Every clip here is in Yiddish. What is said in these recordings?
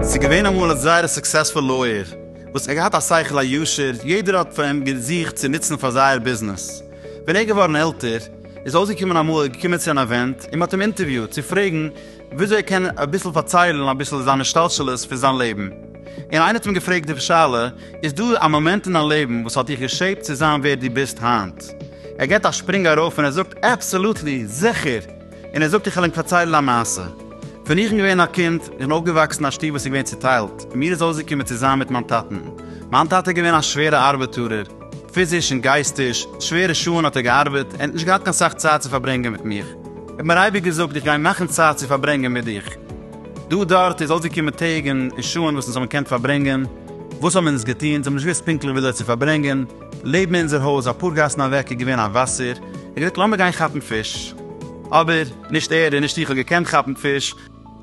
ס'איז געווען אמאל א זייער סוקסעספול לויער וואס האט געהאט א שכל הישר, יעדער האט פאר אים געזוכט צו נוצן פאר זייער ביזנעס. ווען ער איז געווארן עלטער איז אויסגעקומען אמאל ער איז געקומען צו אן אווענט און מען האט אים אינטערוויוט צו פרעגן וויאזוי ער קען אביסל פארציילן אביסל זיין השתלשלות פון זיין לעבן, און איינער האט אים געפרעגט די שאלה, איז דא א מאמענט אין דיין לעבן וואס האט דיך געשעיפט צו זיין ווער דו ביסט היינט? ער געט א שפרינג ארויף און ער זאגט, אבסעלוטלי, זיכער! און ער זאגט, איך וועל ענק פארציילן א מעשה. ווען איך בין געווען א קינד, איך בין אויפגעוואקסן אין א שטוב וואס איז געווען צוטיילט, און מיר איז אויסגעקומען צוזאמען מיט מיין טאטן. מיין טאטע איז געווען א שווערע ארבעטארער, פיזיש און גייסטיש, שווערע שעה'ן האט ער געארבעט, ער האט נישט געהאט קיין סאך צייט צו פארברענגען מיט מיך. איך האב מיר אייביג געזאגט, איך גיי מאכן צייט צו פארברענגען מיט דיך. דא דארט איז אויסגעקומען טעג און שעה'ן וואס אונז האבן געקענט פארברענגען. וואס האבן אונז געטון? אונז האבן נישט געוואוסט פונקטליך וויאזוי צו פארברענגען. לעבן אונזער הויז, אפאר גאסן אוועק, איז געווען א וואסער. ער האט געזאגט, לאמיר גיין כאפן פיש. אבער, נישט ער און נישט איך האט געקענט כאפן פיש.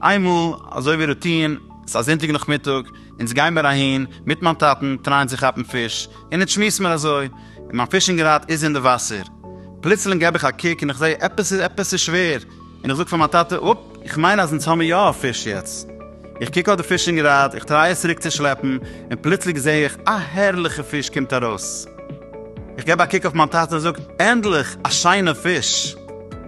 איינמאל, אזוי ווי רוטין, ס'איז א זונטאג נאכמיטאג, אונז גיין מיר אהין מיט מיין טאטן טרייען צו כאפן פיש, און אונז שמועסן מיר אזוי, און מיין פישינג ראד איז אין די וואסער. פלוצלינג געב איך א קוק און איך זעה עפעס איז עפעס איז שווער, און איך זאג פאר מיין טאטע, אפ, איך מיין אז אונז האמיר יא א פיש יעצט. איך קוק אויף די פישינג ראד, איך טריי עס צוריק צו שלעפן, און פלוצלינג זעה איך א הערליכע פיש קומט ארויס. איך געב א קוק אויף מיין טאטע און זאג, ענדליך א שיינע פיש!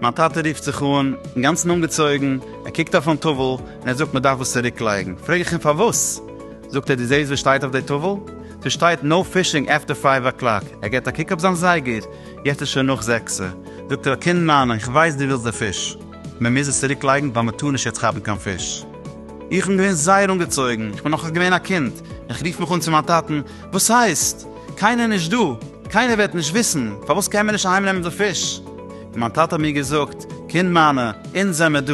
מיין טאטע רופט זיך אן, אינגאנצן אנגעצויגן, ער קוקט אויפן טאוול, און ער זאגט מען דארף עס צוריקלייגן, פרעג איך אים פארוואס? זאגט ער דו זעסט וואס שטייט אויף די טאוול? ס'איז שטייט נאו פישינג עפטער פייוו אקלאק, ער געט א קוק אויף זיין זייגער, יעצט איז שוין נאך זעקסע, זאגט ער א קינד מיינע איך ווייס דו ווילסט די פיש, מען מוז עס צוריקלייגן ווייל מען טאר נישט יעצט כאפן קיין פיש. איך בין געווען זייער אנגעצויגן, איך בין נאך געווען א קינד, איך רוף מיך אן צו מיין טאטן, וואס הייסט? קיינער נישט דא, קיינער וועט נישט וויסן, פארוואס קען מען נישט אהיימנעמען די פיש? און מיין טאטע האט מיר געזאגט, קינד מיינע, אונז זעמער דא,